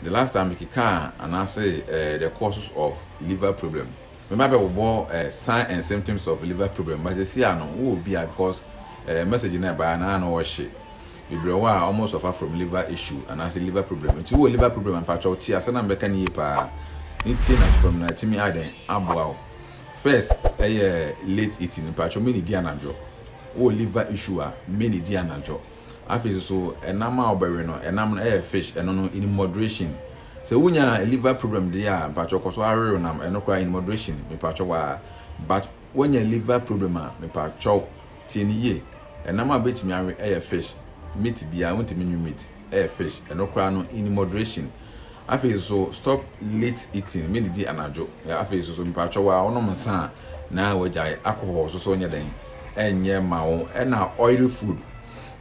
The last time me kekaa anaase eh, the causes of liver problem me ba bɛ bobɔ eh, sign and symptoms of liver problem but sisi a no wo obi a because eh, message na ɛbaa na ano ɔhye bebree wɔ a ɔmo suffer from liver issue anaase liver problem nti wo liver problem ampakyɛw ti asɛ na mbɛka ne yie paa ne tie na fam na ɛtumi adɛn aboa wo first ɛyɛ late eating mpakyɛw mene di anadwo wo liver issue a mene di anadwo Afei nso ɛnam a wɔbɛwe no, ɛnam no ɛyɛ fish, ɛno no in moderation. Sɛ wunya liver problem deɛ a, mpakyɛw kɔ so ara we wo nam, ɛno koraa in moderation, mepakyɛw waa. But woanya liver problem a, mepakyɛw tie no yie, ɛnam a wobɛtumi awe ɛyɛ fish, meat biara wontumi nwe meat, ɛyɛ fish, ɛno koraa no in moderation. Afei nso stop late eating, me didi anadwo. Afei nso so mepakyɛ wo a wonom nsa a na wagyae alcohol nso so nyɛ dɛn ɛnyɛ ma wo ɛna oily food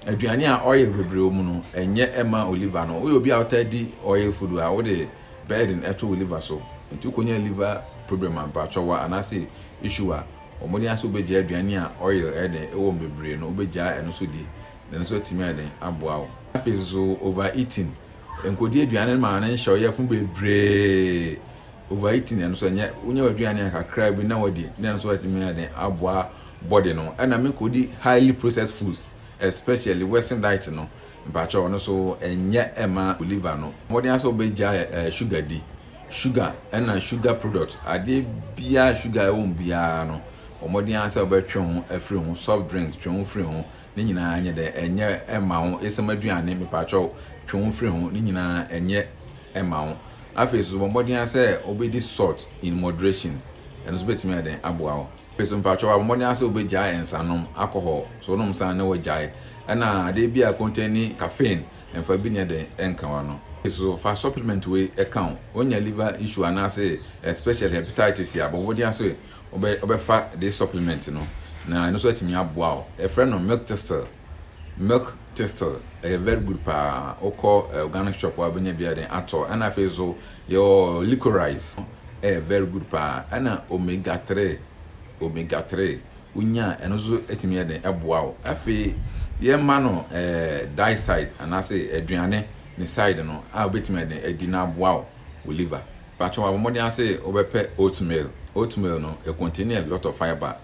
aduane a oil bebree wɔ mu no ɛnyɛ ɛma wo liver no woyɛ obi a wotaa di oil food a wode burden ɛto wo liver so nti wokɔnya liver problem a mepakyɛ wo a anaasɛ issue a wɔde ase wobɛgya aduane a oil ɛyɛ dɛn ɛwɔ mu bebree no wobɛgya ɛno so di na ɛno nso atumi ayɛ dɛn aboa wo. Afei nso over eating Nkodi aduane no ma ne nhyɛw yɛ fo bebree. Overeating ɛno nso ɛnyɛ wonya w'aduane a kakra bi na wadi na ɛno nso atumi ayɛ den aboa body no. Ɛna me kodi highly processed foods especially western diet no mpakyɛw ɔno nso ɛnyɛ ɛma liver no. Mmɔden ara sɛ wobɛgyae ɛɛ sugar di. Sugar ɛna sugar product adeɛ biara sugar ɛwɔ mu biara no bɔ mmɔden ara sɛ wobɛtwe ho afiri ho. Soft drink twe ho firi ho. Ne nyinaa nyɛ dɛ ɛnyɛ ɛma wo esiam aduane mepakyɛw twe wo firi ho ne nyinaa ɛnyɛ ɛma wo afei nso bɔ mmɔden ara sɛ wobɛdi salt in moderation ɛno nso bɛtumi ayɛ dɛn aboa wo afei nso mepakyɛw abɔ mmɔden ara sɛ wobɛgyae nsanom alcohol so wonom nsa na wagyae ɛna adeɛ bi a containi caffeine mfa bi nyɛ dɛn ɛnka wa no so fa supplement wei ɛka wo wonya liver issue anaasɛ especially hepatitis a bɔ mmɔden ara sɛ wobɛfa this supplement no na ɛno nso atumi aboa wo. Yɛfrɛ no milk thistle. Milk thistle ɛyɛ very good paa. Wokɔ organic shop a wobɛnya biara den atɔ. Ɛna afei nso yɛwɔ licorice ɛyɛ very good paa. Ɛna omega 3 omega 3 wonya a ɛno nso atumi yɛ den ɛboa wo. Afei yɛma no die side anaasɛ aduane ne side no a wobɛtumi ayɛ den adi na aboa wo liver. Pacho wabɔ mmɔden ara se wobɛpɛ oatmeal, oatmeal no it contain a lot of fibre,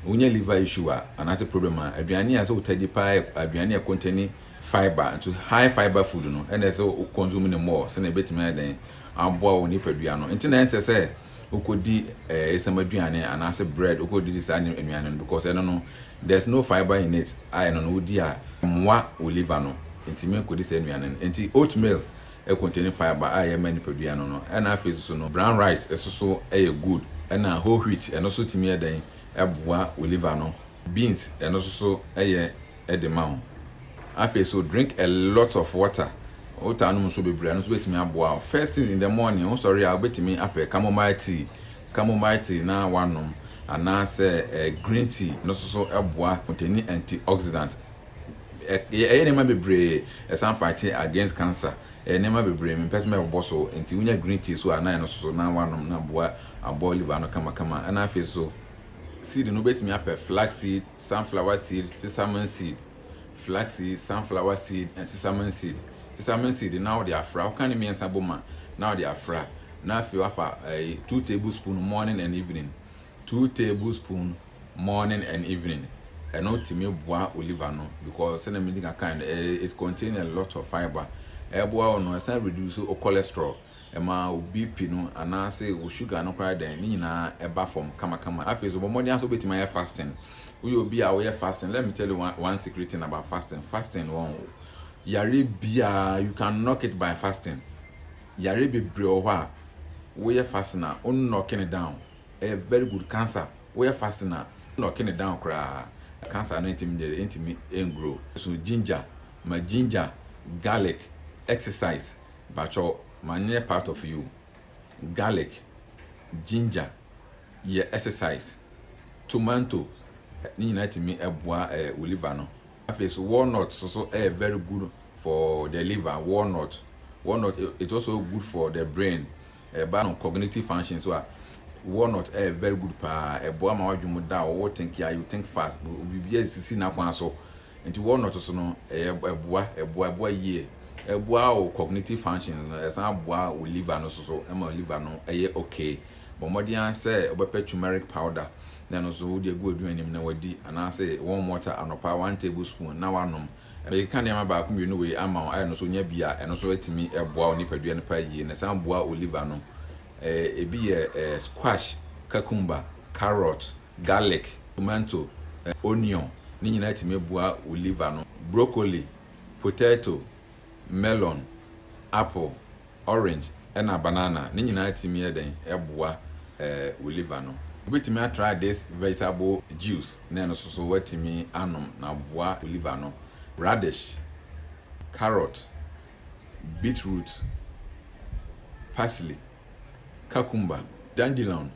wonya liver issue a anaase problem a aduane a ɛsɛ wo taa di paa yɛ aduane a contain fibre, nti high fibre food no ɛna ɛsɛ wo consume no more sɛnea ɛbɛtumi ayɛ dɛn aboa wo nipadua no, nti na ɛnsɛ sɛ wokɔdi eh esiam aduane anaase bread wokɔdidi saa nnuane no because ɛno no there's no fibre in it a ɛno no wodi a ɛmmoa wo liver no, ntumi nkɔdi saa nnuane no, nti oatmeal Ɛ contain fibre a ɛyɛ ma nipadua no no ɛna afei soso no brown rice ɛsoso ɛyɛ good ɛna whole wheat ɛno so tumi yɛ dɛn ɛboa wo liver no beans ɛno soso ɛyɛ ɛde ma wo afei so drink a lot of water wotaa nom nsuo bebree ɛno so bɛtumi aboa wo first thing in the morning wo sɔre a wobɛtumi apɛ chamomile tea chamomile tea na wanom anaasɛ green tea ɛno soso ɛboa contain antioxidant Ɛ ɛyɛ nneɛma bebree ɛsan fighting against cancer ɛyɛ nneɛma bebree mempɛ sɛ mɛbobɔ so nti wonya green tea so a na ɛno so na woanom na aboa abɔ liver no kamakama ɛna afei so seed no wobɛtumi apɛ flax seed sunflower seed sesame seed flax seed sunflower seed and sesame seed sesame seed na wode afra woka ne mmiɛnsa bom a na wode afra na afei wafa ɛyi two tablespoon morning and evening Two table spoon morning and evening ɛno tumi boa wo liver no because sɛnea medi kan kae no ɛyɛ it contain a lot of fibre ɛboa wo no ɛsan reduce wo cholesterol ɛma wo BP no anaase wo sugar no koraa dɛn ne nyinaa ɛba fam kamakama afei so bɔ mmɔden ara sɛ wobɛtumi ayɛ fasting woyɛ obi a woyɛ fasting let me tell you one, one secret thing about fasting fasting wɔn yare biara you can knock it by fasting yare bebree wɔ hɔ a woyɛ fasting a wo knock it down Ɛyɛ very good cancer woyɛ fasting a na ɔke no down koraa na cancer no ntimi nyɛ dɛ ntimi ngrow so ginger ma ginger garlic exercise pakyɛw ma no nyɛ part of you garlic ginger yɛ exercise tomanto ne nyinaa timi boa ɛɛ wo liver no afei so walnut so so ɛyɛ very good for the liver walnut walnut it also good for the brain. Ɛba no cognitive function so a, walnut yɛ very good paa. Ɛboa ma w'adwene mu da, ɔwɔ thinking a, you think fast, biribiara sisi n'akwan so. Nti walnut so no, ɛyɛ ɛboa, ɛboa, ɛboa yie. Ɛboa wo cognitive function no, ɛsan boa wo liver no so so, ɛma liver no yɛ okay. Bɔ mmɔden ara sɛ wobɛpɛ turmeric powder na ɛno nso wode agu w'aduane mu na wadi, anaasɛ warm water anɔpa one table spoon na woanom. Mekeka nneɛma baako mmienu wei ama wo a ɛno nso nya bi a ɛno nso atumi boa wo nipadua no paa yie na ɛsan boa wo liver no. Ebi yɛ squash, cucumber, carrot, garlic, tomanto, onion, ne nyinaa tumi boa wo liver no, broccoli, potato, melon, apple. orange na banana ne nyinaa tumi yɛ dɛn boa wo liver no. Wobɛtumi atry this vegetable juice na ɛno nso so woatumi anom na aboa wo liver no. Radish, carrot, beetroot, parsley, cucumber, dandelion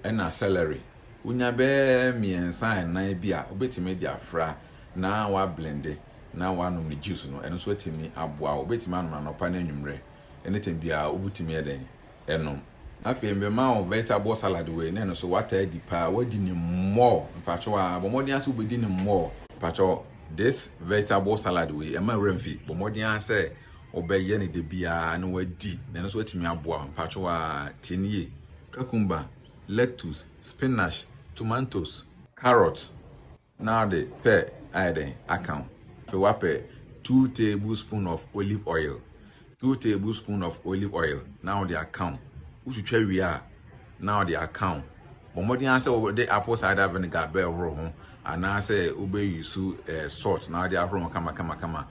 na celery. Wonya bɛyɛ mmiɛnsa a nnan bi a wobɛtumi de afra na woablende. na wanom ne juice no, ɛno nso atumi aboa wo. Wobɛtumi anom anɔpa ne anwummerɛ, anytime biara wobɛtumi ayɛ dɛn? Anom. Afei mema wo vegetable salad wei, na ɛno nso woataa adi paa, woadi no more, mpakyɛw aa, bɔ mmɔden ara sɛ wobɛdi no more. Mpakyɛw, this vegetable salad wei, ɛmma wura mfi, bɔ mmɔden ara sɛ wobɛyɛ no da biara na woadi, na ɛno nso atumi aboa wo, mpakyɛw aa, tie no yie, cucumber, lettuce, spinach, tomatoes, carrot, Na ɔde pɛ ayɛ dɛn aka ho? Afei wapɛ two tablespoon of olive oil, two tablespoon of olive oil na ɔde aka ho. Wotwitwa wie a, na ɔde aka ho. Bɔ mmɔden ara sɛ wode apple cider vinegar bɛhoro ho anaasɛ wobɛyi so eh, salt na ɔde ahoro ho kama kama kama.